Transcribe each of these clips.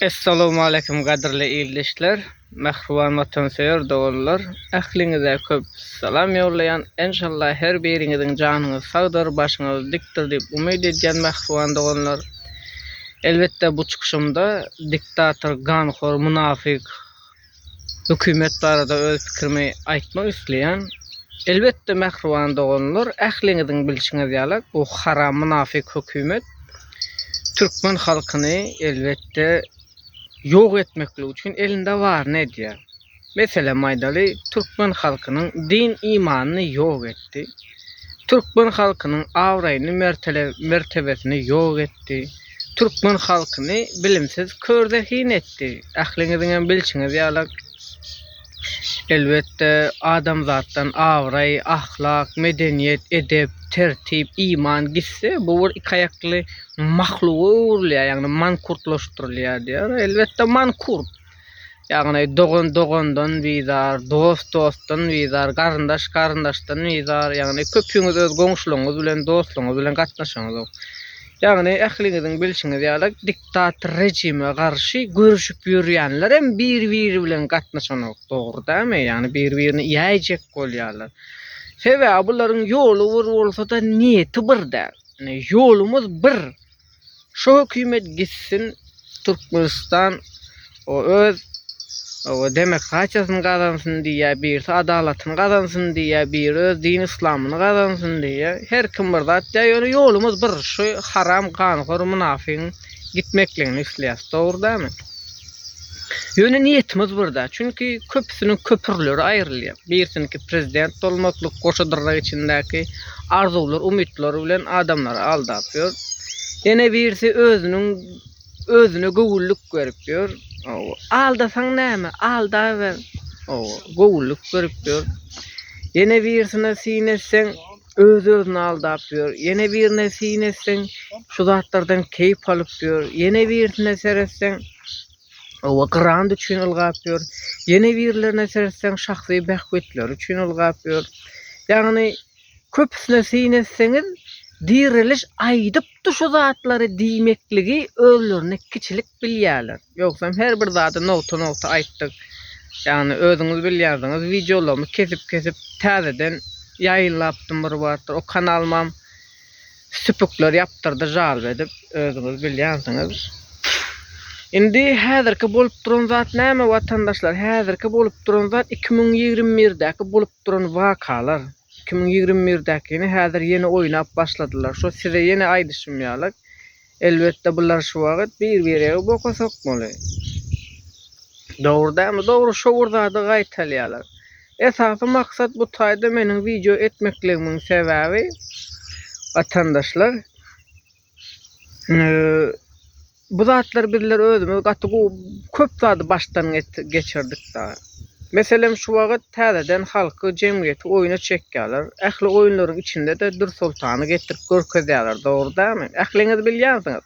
Essalowmaleýkim gadyrly ildeşler, mähriban watansöýer doganlar. Ähliňize köp salam ýollaýan. Enşalla her biriňiziň janyňyz sagdyr, başyňyz dikdir diýip umyt edýän mähriban doganlar. Elbetde bu çykyşymda diktator, ganhor, munafyk, Hökümet barada öz pikirimi aýtmak isleýän. Elbetde mähriban doganlar ähliňiziň bilşiňiz ýaly bu haram mynafyk hökümet türkmen halkyny elbetde ýok etmeklik üçin elinde baryny edýär. Meselem aýdaly türkmen halkynyň din imanyny ýok etdi. Türkmen halkynyň abraýyny mertele mertebesini ýok etdi. Türkmen halkyny bilimsiz kör zehin etdi. Ähliňiziňem bilşiňiz ýalak. Elbetde adamzatdan abraý, ahlak, medeniýet, edep, tertip, iman gitse bu bir iki aýakly mahluga öwrülýär ýagny mankurtlaşdyrylýar diýýär. Elbetde mankurt. Ýagny dogan dogandan bizar, dost dostdan bizar, garyndaş garyndaşdan bizar. Ýagny köpüňiz öz goňşularyňyz bilen, dostlaryňyz bilen gatnaşaňyzok. Ýagny ähliňiziň bilşiňiz ýaly diktator rejime garşy göreşip ýörýänler hem bir-biri bilen gatnaşanok. Dogry dälmi? Ýagny bir-birini ýäýjek bolýarlar. Sebäbi bularyň ýoly bir bolsa-da niýeti bir däl. Ýolumyz bir. Şu hökümet gitsin Türkmenistan o öz o demokratiýasyny gazansyn diýýär, birisi adalatyny gazansyn diýýär, biri öz din yslamyny gazansyn diýýär. Her kim bir zat diýýär, ýöne ýolumyz bir, şu haram ganhor mynafygyň gitmekligini isleýäs. Dogry dälmi? Ýöne niýetimiz bir däl. Çünki köpüsiniň köpürleri aýrylýar. Birsiniki prezident bolmaklyk goşa dyrnak içindäki arzuwlar, umytlary bilen adamlary aldap ýör. Ýene birisi özüniň özüne göwünlik berip ýör. Aldasaň näme, aldaber. Göwünlik berip ýör. Ýene birisine syn etseň, Öz-özüni aldap ýör. Ýene birine syn etseň, şu zatlardan keýp alyp ýör. Ýene birisine seretseň, oba grant üçin ylgap ýör. Ýene birilerine seretseň, şahsy bähbitleri üçin ylgap ýör. Ýagny, köpüsine syn etseňiz, Diriliş aýdypdy şu zatlary diýmekligi özlerini kiçilik bilýärler. Ýogsam her bir zady nogta nogta aýtdyk. Ýagny özüňiz bilýärsiňiz wideolarymy kesip kesip täzeden ýaýynlapdym bir wagtlar o kanalymam süpükler ýapdyrdy žalp edip özüňiz bilýänsiňiz. Indi häzirki bolup duran zat näme watandaşlar häzirki bolup duran zat iki müň ýigrimi birdäki bolup duran wakalar iki müň ýigrimi birdäkini häzir ýene oýnap başladylar şo size ýene aýdyşym ýaly Elbetde bular şu wagyt bir biregi boka sokmaly. Dogry dämi dogry şo bir zady gaýtalýalar. Esasy maksat bu taýda meniň wideo etmekligimiň sebäbi watandaşlar bu zatlar bizler özümiz gaty gowy köp zady başdan geçirdik dagy. Meselem, şu wagt täzeden halky, jemgyýeti oýuna çekýärler. Ähli oýunlaryň içinde-de Dürsoltany getirip görkezýärler, dogry dälmi? Ähliňiz bilýänsiňiz.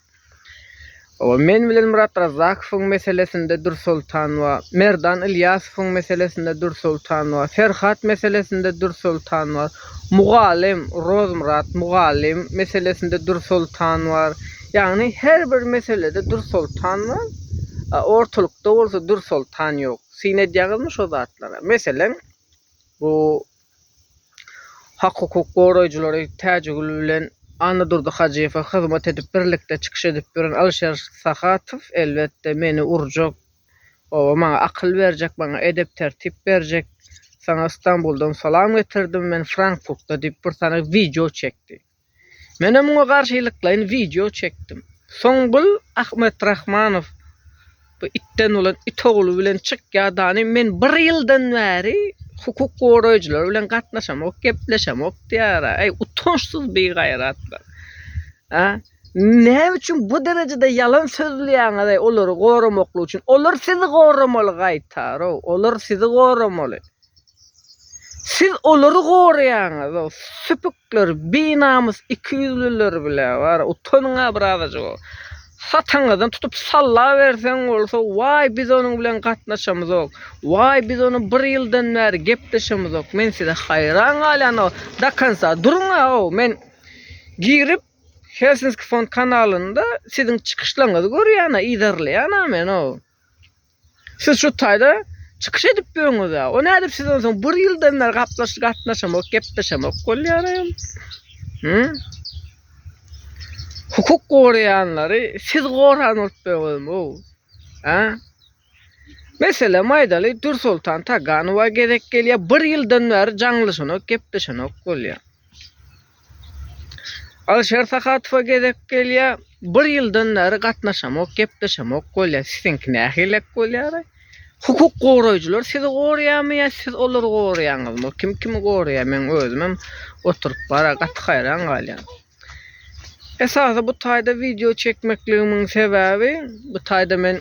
Hawa, men bilen Myrat Razzakowyň meselesinde Dürsoltan bar, Merdan Ylýasowyň meselesinde Dürsoltan bar, Ferhat meselesinde Dürsoltan bar, mugallym Rozmyrat mugallym meselesinde Dürsoltan bar, Ýagny her bir meselede Dür Soltan bar, a ortalykda bolsa Dür Soltan ýok. Syn edýäňizmi şo zatlara? Meselem, bu hak-hukuk goraýjylary Täjigül bilen Annadurdy Hajyýewe hyzmat edip, birlikde çykyş edip ýören Alyşer Sahatow, elbetde, meni urjak, oba, maňa akyl berjek, maňa edep-tertip berjek. Saňa Stambuldan salam getirdim, men Frankfurtda diýip, bir sany wideo çekdi. Menem muňa garşylyklaýyn wideo çekdim. Soňgul Ahmetrahmanow bu itden bolan it ogly bilen çyk ýadany men bir ýyldan bäri hukuk goraýjylar bilen gatnaşamok gepleşemok diýýär äý utançsyz bigaýratlar a näme üçin bu derejede ýalan sözleýäňiz äý olary goramaklyk üçin olar sizi goramaly gaýtarow olar sizi goramaly Siz olary goraýaňyz, o süpükler, binamys ikiýüzlüler bile bar, utanyň-a birazajyk. Sataňyzdan tutup salla berseň bolsa, waý biz onuň bilen gatnaşamyzok, waý biz ony bir ýyldan bäri gepleşemizok, men size haýran galýan, o do konca duruň-a, o men girip Helsinki fon kanalynda siziň çykyşlaňyzy görýän-a, yzarlaýan-a men o. Siz şu taýda çykyş edip ýörüňiz-ä. O nädip siz onsoň bir ýyldan bäri gaplaş gatnaşamok, gepleşemok bolýaram? Hü? Hukuk goraýanlary siz goran bolup ýörüňiz-ow. Hä? Meselem aýdaly, Dürsoltan Taganowa gezek gelýär, bir ýyldan bäri jaňlaşanok, gepleşenok bolýar. Alişer Sahatowa gezek gelýär. Bir ýyldan bäri gatnaşamok, gepleşemok bolýar. Siziňki nähilek bolýar? Hukuk goraýjylar sizi gorýarmy ýa siz olary gorýaňyzmy? Kim kimi gorýar? Men özümem oturyp bara gaty haýran galýan. Esasy bu taýda wideo çekmekligimiň sebäbi bu taýda men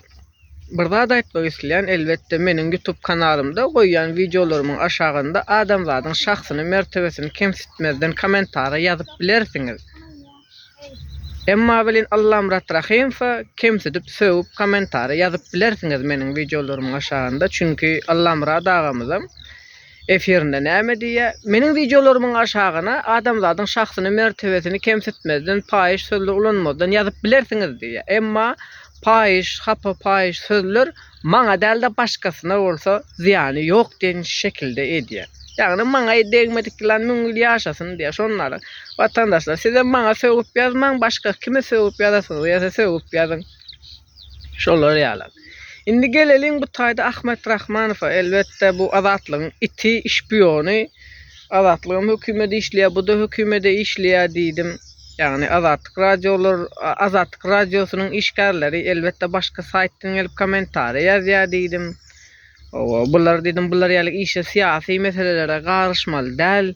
Bir zat aýtmak isleýän elbetde meniň ýutub kanalymda goýýan wideolarymyň aşagynda adamzadyň şahsyny mertebesini kemsitmezden komentariýa ýazyp bilersiňiz emma welin Allamyrat Rahymowa kemsidip sögüp komentariýa ýazyp bilersiňiz meniň wideolarymyň aşagynda çünki Allamyrat agamyzam Efirinde näme diýýä? Meniň wideolarymyň aşagyna adamzadyň şahsyny mertebesini kemsitmezden paýyş sözler ulanmazdan ýazyp bilersiňiz diýýä. Emma paýyş, hapa paýyş sözler maňa dälde başgasyna bolsa zyýany ýok diýen şekilde edýä. Ýagny maňa degmedik ýylan müň ýyl ýaşasyn diýýä. Şondan watandaşlar sizem maňa sögüp ýazmaň başga kime sögüp ýazasyňyz ýasa sögüp ýazyň. Şolar ýaly. Indi geleliň bu taýda Ahmet Rahmanowa. Elbetde, bu Azatlygyň iti, şpiony. Azatlygam hökümede işleýär, bu-da hökümede işleýär diýdim. Ýagny Azatlyk radiolar, Azatlyk radiosynyň işgärleri, elbetde, başga saýtdan gelip kommentariýa ýazýar diýdim. Hawa, bular diýdim, bular ýaly işe, syýasy meselelere garyşmaly däl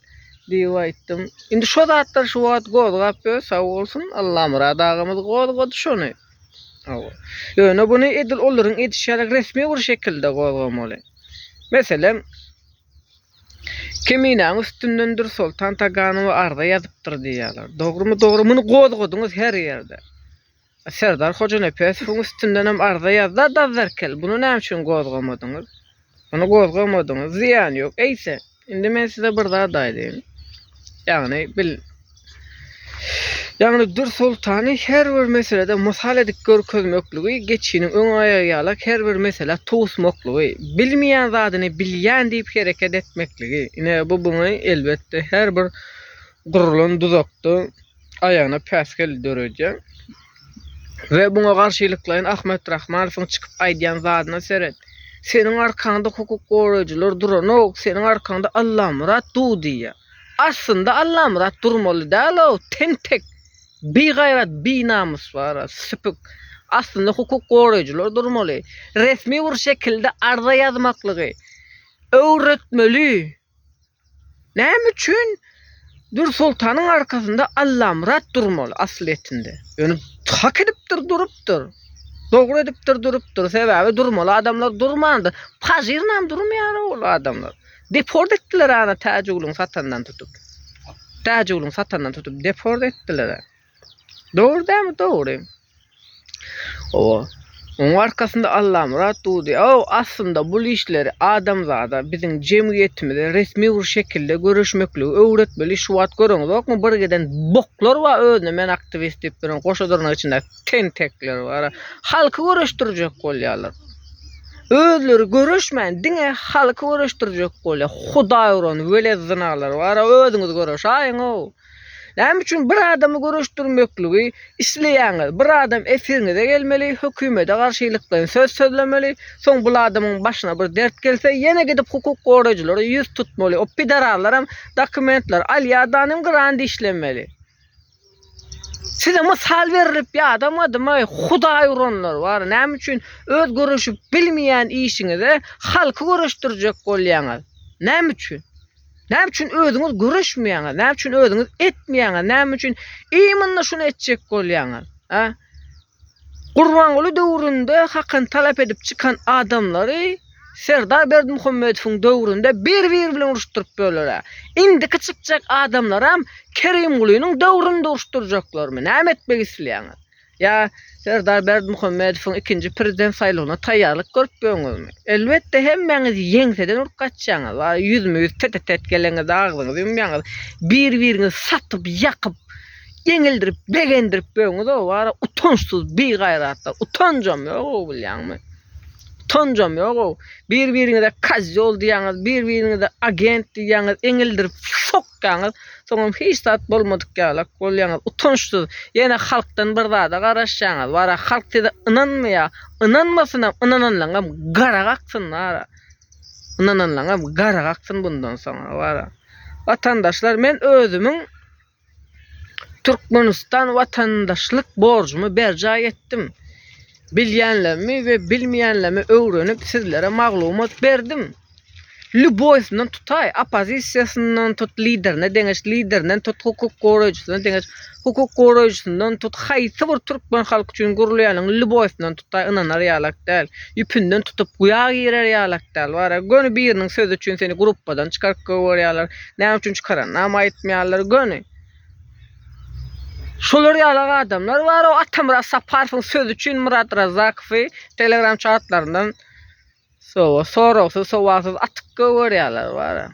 diýip aýtdym. Indi şo zatlar şu wagt gozgap ýör, sag bolsun, Allamyrat agamyz gozgady şony. Hawa. Ýöne buny edil olaryň edişi ýaly resmi bir şekilde gozgamaly. Meselem, Keminäň üstünden Dürsoltan Taganowa arza ýazypdyr diýýärler. Dogrumy, dogry, muny gozgadyňyz her ýerde. Serdar Hojanepesowyň üstündenem arza ýazda Dazzarkel, buny näme üçin gozgamadyňyz? Ony gozgamadyňyz, zyýany ýok. Eýse, indi men size bir zat aýdaýyn. Ýagny, bil. Ýagny, Dür soltany her bir meselede mysal edip görkezmekligi, geçiniň öň aýagy ýalak her bir meselä towusmaklygy, bilmeýän zadyny bilýän diýip hereket etmekligi. Ine, bu buňa, elbetde, her bir gurlan duzakda, aýagyna päsgel döredýär. We muňa garşylyklaýyn Ahmet Rahmanowyň çykyp aýdýan zadyna seret. Seniň arkaňda hukuk goraýjylar duranok, seniň arkaňda Allamyrat dur diýýär. Aslynda Allamyrat durmaly däl-ow, tentek, bigaýrat, binamys bar-a, süpük. Aslynda hukuk goraýjylar durmaly. Resmi bir şekilde arza ýazmaklygy öwretmeli. Näme üçin Dürsoltanyň arkasynda Allamyrat durmaly asyl etinde? Ýöne hak edipdir durupdyr. Dogry edipdir durupdyr. Sebäbi durmaly adamlar durmandyr. Pajyrynam durmaýar ol adamlar. Deport etdiler ana Täjigulyň satandan tutup. Täjigulyň satandan tutup deport etdiler. Dogry dämi dogry. Owa. Oň arkasynda Allamyrat dudy. Aw, aslynda bul işleri adamzada, biziň jemgyýetimize resmi bir şekilde göreşmekligi öwretmeli. Şu wagt göreňizokmy, bir giden boklar bar özüne men aktiwist diýip duran, goşa durnak içinde tentekler bar. Halky göreşdirjek bolýarlar. Özleri göreşmän diňe halky göreşdirjek bolýar. Hudaý uran weled zynalar bar, özüňiz göreşaýyň-ow. Näme üçin bir adamy göreşdirmekligi isleýäňiz? Bir adam efiriňize gelmeli, hökümede garşylyklaýyn söz sözlemeli, soň bul adamyň başyna bir dert gelse, ýene gidip hukuk goraýjylara ýüz tutmaly, o pidararlaram dokumentler alýar danym gyran dişlemeli. Size mysal berlip ýadamadymaý, hudaý uranlar bar, näme üçin öz göreşip bilmeýän işiňize halky göreşdirjek bolýaňyz? Näme üçin? Näme üçin özüňiz göreşmeýäňiz? Näme üçin özüňiz etmeýäňiz? Näme üçin iýminde şuny etjek bolýaňyz? Ha? Gurbanguly döwründe hakyny talap edip çykan adamlary Serdar Berdimuhamedowyň döwründe bir-biri bilen uruşdyryp böler. Indiki çykjak adamlaram Kerimgulynyň döwründe uruşdyrjaklarmy? Näme etmek isleýäňiz? Ýa Serdar Berdimuhamedowyň ikinji prezident saýlawyna taýýarlyk görüp ýöňüzmi? Elbetde hemmäňiz ýeňseden urup gaçýaňyz. Ýüzme-ýüz tete-tet gelenizde agzyňyzy ýumýaňyz. Bir-biriňizi satyp, ýakyp, ýeňildirip, begendirip ýöňüz-ow. Wara utançsyz bigaýratlar. Utanjam ýog-ow bilýäňmi? Utanjam ýog-ow. Bir-biriňize kozýol diýýäňiz, bir-biriňize agent diýýäňiz, eňildirip, şok! Çykýaňyz, soňam hiç zat bolmadyk ýalak bolýaňyz. Utançsyz. Ýene halkdan bir zada garaşýaňyz. Wara, halk size ynanmaýa. Ynanmasynam, ynananlaňam gara gaksyn wara. Ynananlaňam gara gaksyn bundan soň wara. Watandaşlar, men özümiň Türkmenistan watandaşlyk borjumy berjaý etdim. Bilýänlerimi we bilmeýänlerimi öwrenip sizlere maglumat berdim. Lýuboýsyndan tutaý, oppozisiýasyndan tut, liderine deňeş, liderinden tut, hukuk goraýjysyna deňeş, hukuk goraýjysyndan tut, haýsy bir türkmen halky üçin gurulýanyň lýuboýsyndan tutaý, ynanar ýalak däl. Ýüpünden tutup, guýa girer ýalak däl. Bar-a, göni biriniň sözi üçin seni gruppadan çykaryp goýberýärler. Näme üçin çykaranynam aýtmaýarlar. Göni. Şolar ýalak adamlar bar-a, Atamyrat Saparowyň sözi üçin Myrat Razzakowy telegram çatlaryndan Sowa, soragsyz, sowalsyz atyp gögerýärler bara.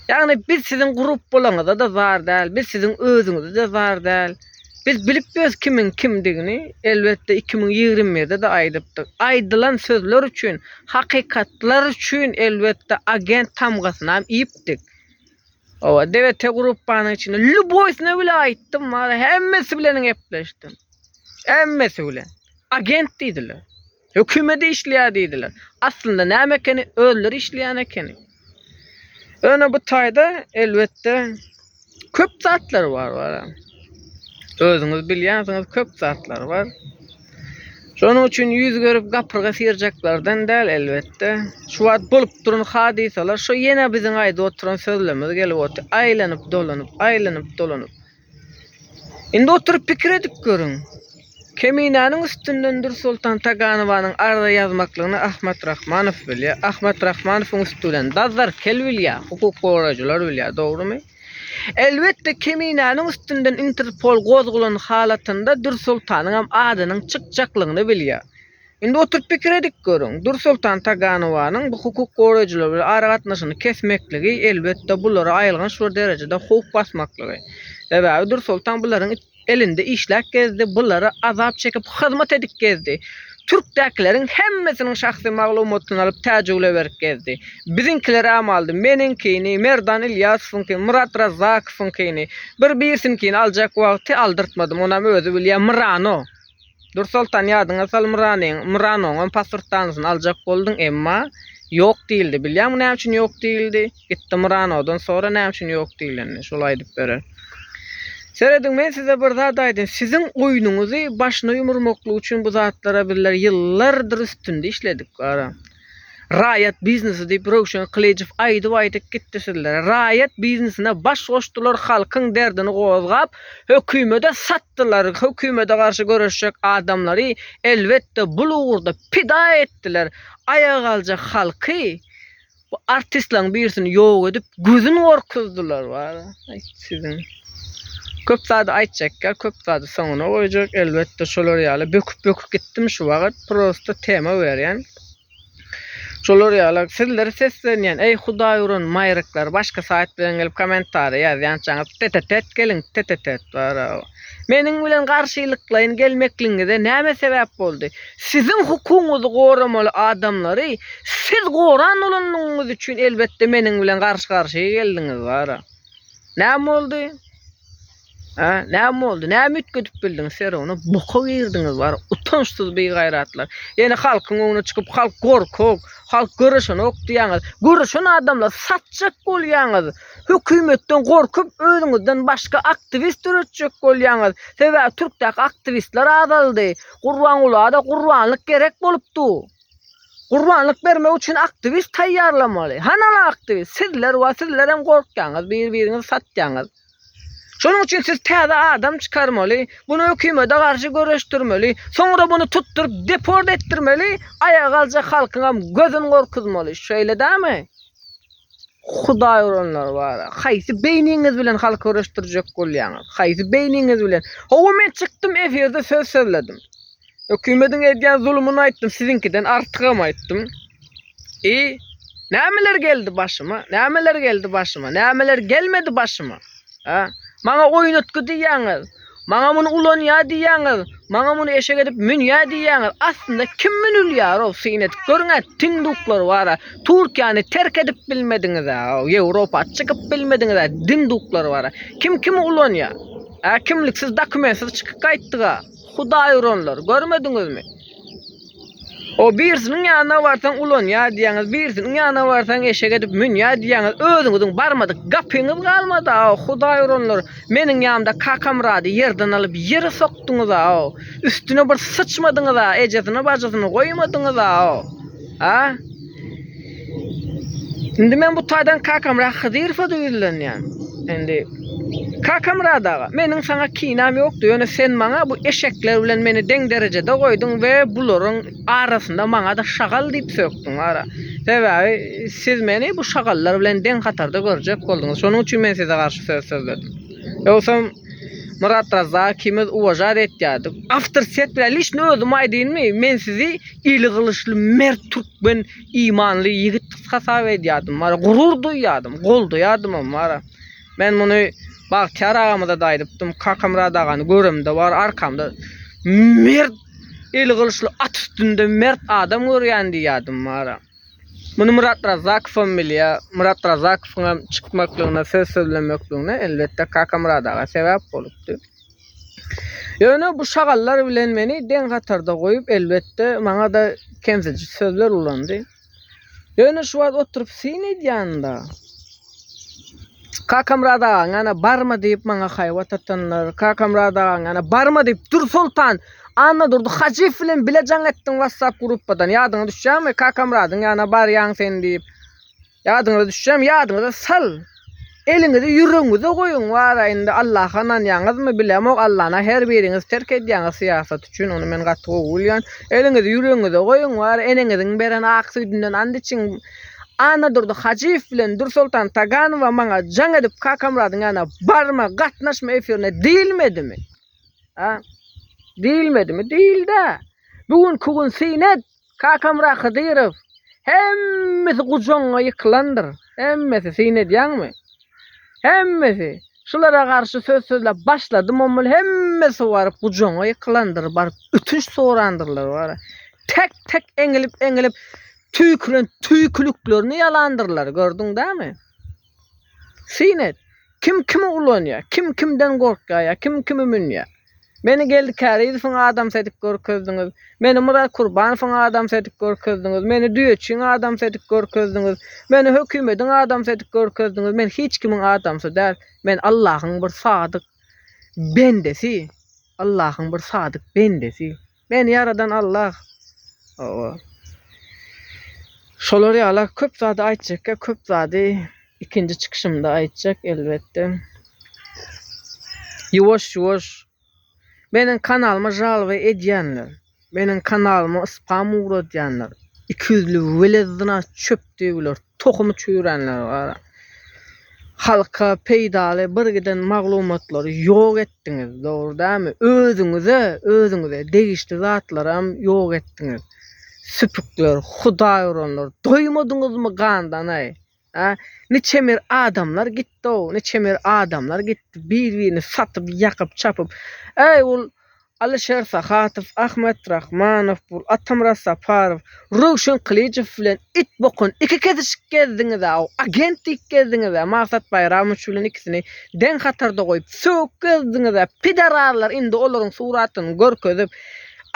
Ýagny biz siziň grup bolaňyza-da zar däl, biz siziň özüňize-de zar däl. Biz bilip ýörüs kimiň kimdigini, elbetde iki müň ýigrimi birde-de aýdypdyk. Aýdylan sözler üçin, hakykatlar üçin elbetde agent tamgasynam iýipdik. Owa, DWT gruppanyň içinde lýuboýsyna bile aýtdym bara, hemmesi bilen gepleşdim. Hemmesi bilen. Agent diýdiler. Hökümede işleýär diýdiler. Aslynda näme ekeni, özleri işleýän ekeni. Ýöne bu taýda elbetde köp zatlar bar bara. Özüňiz bilýänsiňiz köp zatlar bar. Şonuň üçin ýüz görüp gapyrga syrjaklardan däl elbetde. Şu wagt bolup duran hadysalar şu ýene biziň aýdyp oturan sözlerimiz gelip otyr. Aýlanyp dolanyp, aýlanyp dolanyp. Indi oturyp pikir edip görüň. Keminäniň üstünden Dürsoltan Taganowanyň arza ýazmaklygyny Ahmat Rahmanow bilýär. Ahmat Rahmanowyň üsti bilen Dazzar Kel bilýär, hukuk goraýjylar bilýär, dogrumy? Elbetde, Keminäniň üstünden Interpol gozgulan halatynda Dürsoltanyňam adynyň çykjaklygyny bilýär. Indi oturyp pikir edip görüň, Dursoltan Taganowanyň bu hukuk goraýjylar bilen aragatnaşygyny kesmekligi, elbetde, bulary aýylganç bir derejede howp basmaklygy. Sebäbi Dursoltan bularyň elinde işläp gezdi, bulara azap çekip hyzmat edip gezdi. Türkdäkileriň hemmesiniň şahsy maglumatyny alyp Täjigule berip gezdi. Biziňkiler äm aldy, meniňkini, Merdan Ilýasowyňkyny, Myrat Razzakowyňkyny, bir-birisiňkini aljak wagty aldyrtmadym, onam özi bilýär, Myrano. Dursoltan ýadyňa sal Myranyň, Myranoňam pasportdanysyny aljak bolduň, emma ýok diýildi. Bilýäňmi näme üçin ýok diýildi? Gitdi Myranodan sora näme üçin ýok diýilenini, şol aýdyp berer. Serediň men size bir zat aýdyn, siziň oýnuňyzy başyna ýumurmaklyk üçin bu zatlara bizler ýyllardyr üstünde işledik, gara. Raýat biznesi diýip Röwşen Kylyjow aýdyp aýdyp gitdi sizlere. Raýat biznesine baş goşdular halkyň derdini gozgap hökümede satdylar hökümede garşy göreşjek adamlary elbetde bul ugurda pida etdiler aýaga galjak halky bu artistlaň birisini ýok edip gözün gorkuzdylar wara aýt siziň. Köp zady aýtjakka, köp zady soňuna goýjak. Elbetde şolar ýaly böküp-böküp gitdim şu wagyt. Prosta tema berýän. Şolar ýaly sizlere seslenýän. Eý hudaý uran maýryklar başga saýt bilen gelip kommentariýa ýazýançaňyz tetetet geliň tetetet barao. Meniň bilen garşylyklaýyn gelmekligiňize näme sebäp boldy? Siziň hukugyňyzy goramaly adamlary siz goran bolanlygyňyz üçin elbetde meniň bilen garşy-garşy geldiňiz bara. Näme boldy? Ha, näme boldy? Näme üýtgedip bildiň Sero? Ony boka girdiňiz bar, utançsyz bigaýratlar. Ýene halkyň öňüne çykyp, halk gorkak, halk göreşenok diýýäňiz. Göreşen adamlar satjak bolýaňyz. Hökümetden gorkup, özüňizden başga aktiwist döretjek bolýaňyz. Sebäbi türkdäki aktiwistler azaldy. Gurbangulyada gurbanlyk gerek bolupdy. Gurbanlyk bermek üçin aktiwist taýýarlamaly. Hanala aktiwist? Sizler we sizlerem gorkýaňyz, bir-biriňizi satýaňyz. Şonuň üçin siz täze adam çykarmaly, buny hökümede garşy göreşdirmeli, soňra buny tutduryp deport etdirmeli, aýaga galjak halkyňam gözün gorkuzmaly. Şeýle dälmi? Hudaý uranlar bar. Haýsy beýniňiz bilen halk göreşdirjek bolýaňyz? Haýsy beýniňiz bilen? Hawa men çykdym efirde söz sözledim. Hökümediň edýän zulumyny aýtdym, siziňkiden artygam aýtdym. I nämeler geldi başyma? Nämeler geldi başyma? Nämeler gelmedi başyma? Hä? Maňa oýnatgy diýýäňiz. Maňa muny ulanýar diýýäňiz. Maňa muny eşek edip münýär diýýäňiz. Aslynda kim münülýär-ow, syn edip görüň-ä, tinduklar bar-a. Türkiýäni terk edip bilmediňiz-ä, Ýewropa çykyp bilmediňiz-ä, dinduklar bar-a. Kim kimi ulanýar? Hä, kimliksiz, dokumentsiz çykyp gaýtdyk-a. Hudaýuranlar, görmediňizmi? O birisiniň ýanyna barsaň ulanýa diýýäňiz, birisiniň ýanyna barsaň eşek edip münýä diýýäňiz, özüňiziň barmadyk gapyňyz galmady-a, Hudaý uranlar, meniň ýanymda Kakamyrady ýerden alyp ýere sokduňyz-a, üstüne bir syçmadyňyz-a, ejesini-bajysyny goýmadyňyz-a, a? Indi men bu taýdan Kakamyrat Hydyrowa-da ýüzlenýän. Indi Kakamyrat aga, meniň saňa kinäm ýokdy, ýöne sen maňa bu eşekler bilen meni deň derejede goýduň we bularyň arasynda maňa-da şagal diýip sökdüň wara. Sebäbi siz meni bu şagallar bilen deň hatarda görjek bolduňyz. Şonuň üçin men size garşy söz sözledim. Ýogsam, Myrat Razzak ikimiz uwažar etýärdik. Awtor set bilen lişni özüm aýdynmy, men sizi eli gylyçly mert türkmen imanly ýigit hasap edýärdim wara, gurur duýýardym, goldaýardymam wara. Men muny Bagtyýar agamyzada aýdypdym, Kakamyrat agany göremde wara arkamda mert eli gylyçly at üstünde mert adam görýän diýýärdim wara. Muny Murat Razakowam bilýär. Murat Razakowyň hem çykmaklygyna, söz sözlemekligine, elbetde, Kakamyrat aga sebäp bolupdy. Ýöne bu şagallar bilen meni deň hatarda goýup, elbetde, maňa-da kemsidiji sözler ulandy. Ýöne şu wagt oturyp syn edýänimde. Kakamyrat agaň ana barmy diýip maňa haýbat atanlar. Kakamyrat agaň ana barmy diýip Dursoltan Annadurdy Hajyýew bilen bile jaň etdiň WhatsApp gruppadan. Ýadyňa düşýärmi? Kakamyradyň ýanyna barýaň sen diýip. Ýadyňyza düşýärmi? Ýadyňyza sal. Eliňizi ýüregiňize goýuň. Wara indi Allaha ynanýaňyzmy bilemok. Allana her biriňiz terk edýäňiz syýasat üçin. Ony men gaty gowy bilýän. Eliňizi ýüregiňize goýuň. Wara eneňiziň beren ak süýdünden and içiň. Annadurdy Hajyýew bilen Dürsoltan Taganowa maňa jaň edip Kakamyradyň ýanyna barma, gatnaşma efirine diýilmedimi? A? Diýilmedimi? Diýildi-ä. Bu günki gün syn et, Kakamyrat Hydyrow, hemmesi gujagyňa ýykylandyr. Hemmesi, syn edýäňmi? Hemmesi. Şulara garşy söz sözläp başladym bolmaly, hemmesi baryp gujagyňa ýykylandyr, baryp ötünç sorandyrlar, wara. Tek-tek eňilip-eňilip Tüýkülen tüýküliklerini ýalandyrlar, gördüň dämi? Syn et, kim kimi ulanýar, kim kimden gorkýar ýa kim kimi münýär? Meni Geldi Kärizowyň adamsy edip görkezdiňiz, meni Myrat Kurbanowyň adamsy edip görkezdiňiz, meni Düýeçiň adamsy edip görkezdiňiz, meni hökümediň adamsy edip görkezdiňiz, men hiç kimiň adamsy däl, men Allahyň bir sadyk bendesi, Allahyň bir sadyk bendesi. Meni ýaradan Allah ooo. Şolar ýala köp zady aýtjakka köp zady ikinji çykyşymda aýtjak elbetde. Ýuwaş ýuwaş Meniň kanalyma žalba edýänler, meniň kanalyma spam ugradýanlar, ikiýüzli welezzina çöp döwüler. tohumy çüýränler bar. Halka peýdaly bir giden maglumatlary ýok etdiňiz, dogry dälmi? Özüňize, özüňize degişli zatlaram ýok etdiňiz. Süpükler, hudaýuranlar, doýmadyňyzmy gandan-aý? Hä? Niçemir adamlar gitdi-ow, niçemir adamlar gitdi, bir-birini satyp, ýakyp, çapyp. Äý, ol Alyşer Sahatow, Ahmet Rahmanow, Atamyrat Saparow, Röwşen Kylyjow bilen it bokun iki kesişik gezdiňiz-aw, agent diýip gezdiňiz-ä, Magsat Baýramowiç bilen ikisini deň hatarda goýup, sögüp gezdiňiz-ä, pidararlar indi olaryň suratyny görkezip,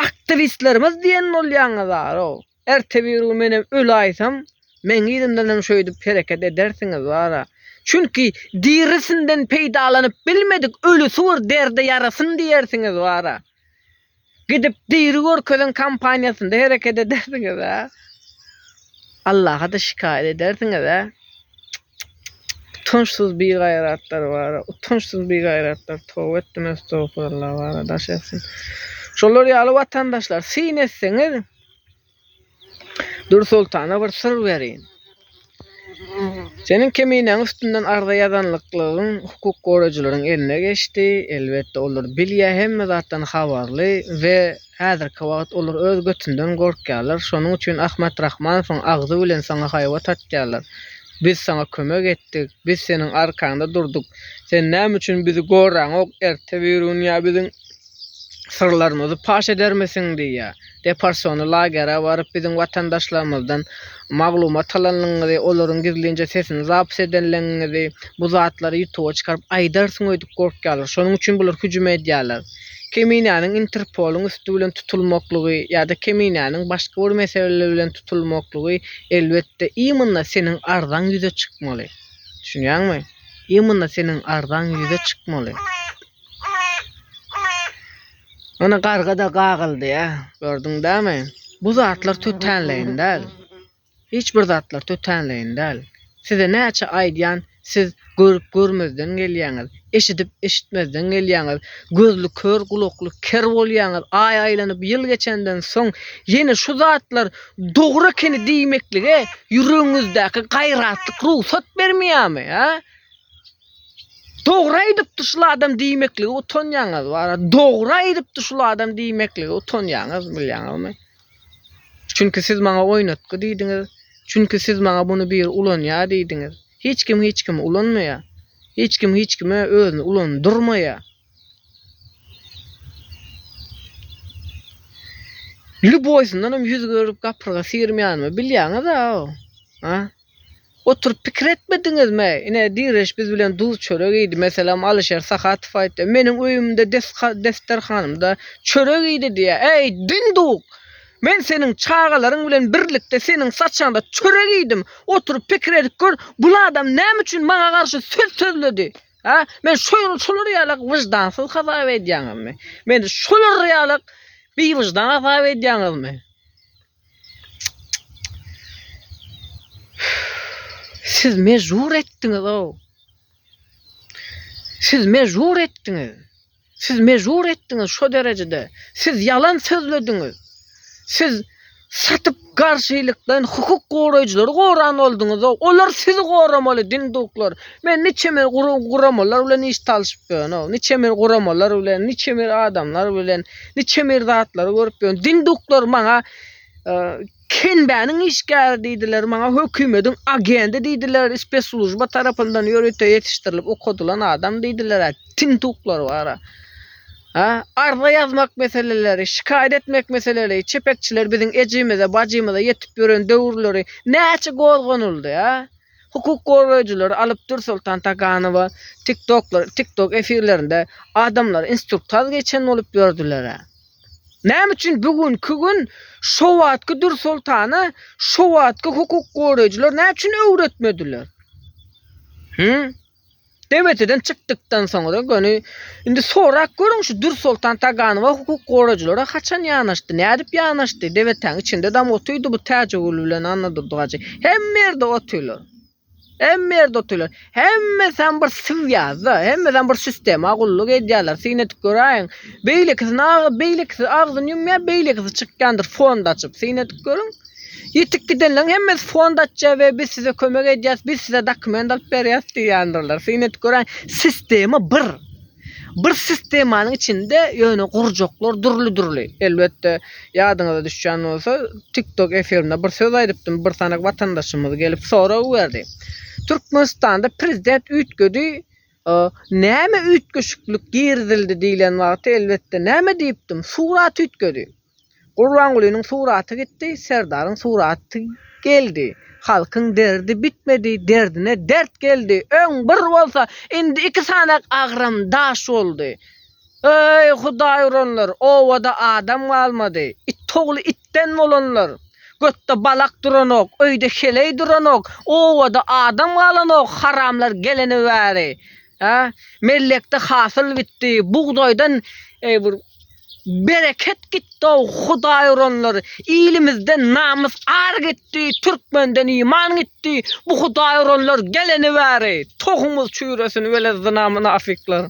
aktiwistlerimiz diýen bolýaňyz-a-ow. Ertebirun menem öläýsem, meň yzymdan hem şeýdip hereket edersiňiz wara. Çünki, dirisinden peýdalanyp bilmedik ölüsi bir derde ýarasyn diýersiňiz wara. Gidip diri görkezen kompaniýasynda hereket edersiňiz-ä. Allaha-da şikaýat edersiňiz-ä. Çyk-çyk-çyk-çyk. Utançsyz bigaýratlar wara. Utançsyz bigaýratlar. Toba etdim, estogfuralla wara. Daş etsin. Şolar ýaly watandaşlar syn etseňiz. Dürsoltana bir syr berin. Seniň keminäň üstünden arza ýazanlyklygyň hukuk goraýjylaryň eline geçdi. Elbetde olar bilýär, hemme zatdan habarly we häzirki wagt olar öz götünden gorkýarlar. Şonuň üçin Ahmet Rahmanowyň agzy bilen saňa haýbat atýarlar. Biz saňa kömek etdik, biz seniň arkaňda durduk. Sen näme üçin bizi goraňok, ertebirun ýa biziň. syrlarymyzy paş edermisiň diýýär. Deporsiony lagere baryp biziň watandaşlarymyzdan maglumat alanyňyzy, olaryň gizlinje sesini zapis edenligiňizi, bu zatlary ýutuba çykaryp aýdarsyň öýdüp gorkýarlar. Şonuň üçin bular hüjüm edýärler. Keminäniň Interpolyň üsti bilen tutulmaklygy ýa-da keminäniň başga bir mesele bilen tutulmaklygy elbetde imynda seniň arzaň ýüze çykmaly. Düşünýäňmi? Imynda seniň arzaň ýüze çykmaly. Ony garga-da gagyldy ýa. Gördüň dämi? Bu zatlar tötänleýin däl. Hiç bir zatlar tötänleýin däl. Size näçe aýdýan, siz görüp görmezden gelýäňiz, eşidip eşitmezden gelýäňiz, gözli kör gulakly ker bolýaňyz, aý aýlanyp ýyl geçenden soň ýene şu zatlar dogry ekeni diýmeklige ýüregiňizdäki gaýratlyk rugsat bermeýärmi, hä? Dogry aýdypdy şul adam diýmeklige utanýaňyz bara. Dogry aýdypdy şul adam diýmeklige utanýaňyz bilýäňizmi? Çünki siz maňa oýnatgy diýdiňiz. Çünki siz maňa buny bir ulanýar diýdiňiz. Hiç kim hiç kimi ulanmaýar. Hiç kim hiç kime özüni ulandyrmaýar. Lüboýsyndan hem ýüz görüp gapyrga syrmaýanmy bilýäňiz-ä? Ha? Oturyp pikir etmediňizmi? Ine, Direş biz bilen duz-çörek iýdi. Meselem, Alyşer Sahatow aýtdy, Meniň öýümde, desga-desterhanymda çörek iýdi diýýär. Äý, dinduk! Men seniň çagalaryň bilen birlikde seniň saçaňda çörek iýdim. Oturyp pikir edip gör, bul adam näme üçin maňa garşy söz sözledi? Hä? Meni şolar ýaly wyždansyz hasap edýäňizmi? Meni şolar ýaly biwyždan hasap edýäňizmi? Siz mejbur etdiňiz-ow. Siz mejbur etdiňiz. Siz mejbur etdiňiz şo derejede. Siz ýalan sözlediňiz. Siz satyp garşylyklaýyn hukuk goraýjylary goran bolduňyz-ow. Olar sizi goramaly dinduklar. Men niçe men guramalar bilen iş talyşyp ýörün-ow. Niçe men guramalar bilen, niçe men adamlar bilen Niçem bir zatlary görüp ýörün. Dinduklar maňa e, Kenbäniň işgäri diýdiler, maňa hökümetiň agendi diýdiler, spesslujba tarapyndan ýörite ýetişdirilip okadylan adam diýdiler. Tinduklar bara. Ha, arza ýazmak meseleleri, şikaýat etmek meseleleri, çepekçiler biziň ejimize, bajymyza ýetip ýören döwürleri näçe gozganyldy, ha? Hukuk goraýjylary Alypdur Soltan Taganowa TikToklar TikTok efirlerinde adamlar instruktaj geçen bolup ýördüler-ä. Näme üçin bu günki gün şo wagtky Dur Soltana şo wagtky hukuk goraýjylar näçün öwretmediler? Hü? DBT-den çykdykdan soňra göni indi sorap görüň şu Dürsoltan Taganowa hukuk gorajylara haçan ýanaşdy, nädip ýanaşdy, DBT-niň içindedam otydy bu Täjigül bilen Anna Durdygajy. Hemme ýerde otylar. Hemme ýerde otylar. Hemmesem bir syw ýazda, hemmesem bir sistema gulluk edýärler. Syn edip göräýiň. Beýlekisini beýlekisi agzyny ýumýar, beýlekisi çykýandyr fond açyp. Syn edip görüň. Ýitip gidenleriň hemmesi fond açýar we biz size kömek edýäris, biz size dokument alyp berýäris diýýändirler. Syn edip göräýiň, sistema bir. Bir sistemanyň içinde ýöne gurjaklar dürli-dürli. Elbetde, ýadyňyza düşýän bolsa, TikTok efirinde bir söz aýdypdym, bir sany watandaşymyz gelip sorag berdi. Türkmenistanda prezident üýtgedi, näme üýtgeşiklik girizildi diýlen wagty, elbetde, näme diýipdim, surat üýtgedi. Gurbangulynyň suraty gitdi, Serdaryň suraty geldi. Halkyň derdi bitmedi, derdine dert geldi. Öň bir bolsa, indi iki sanak agram daş boldy. Eý, Hudaý uranlar, obada adam galmady. Itogly itden bolanlar. Götde balak duranok, öýde heleý duranok, obada adam galanok, haramlar gelene bäri. Hä? Mellekde hasyl bitdi, bugdaýdan bir bereket gitdi-ow, Hudaý uranlar. Ilimizden namys, ar gitdi, türkmenden iman gitdi. Bu Hudaý uranlar geleni bäri tohumyz çüýresin, welezzina mynafyklar.